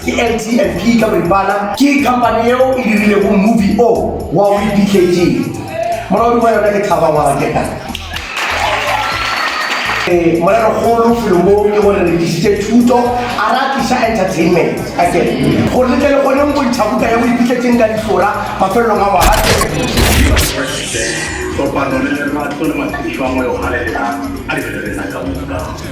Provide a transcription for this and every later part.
Ke LTNP ka boripana. Ke company yeo e dirilego movie o wa We BKG. Molaodi wa yona ke Thaba Waraketa. Morero-kgolo felong mo ke gore re tlišitše thuto a ra tliša entertainment ka ke gore le tle le kgone go bontšha buka ya boipitletšeng ka dihlora mafelelong a ngwaga ke. Kopano le lerato le matsebišo a moya o galelelang a di re rena ka moka.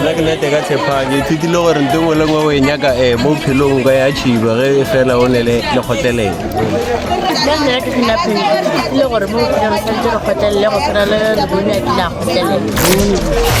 nna ke nete ka tshepang ke ithutile gore nto ngwe le ngwe o e nyaka um mo phelong o ka ya tšhiba ge e fela o ne le kgotlelelo nna nna ke se napeng ke ithutile gore mo phelong o tshwanetse re kgotlelele go tshwana le lebone a kile a kgotlelela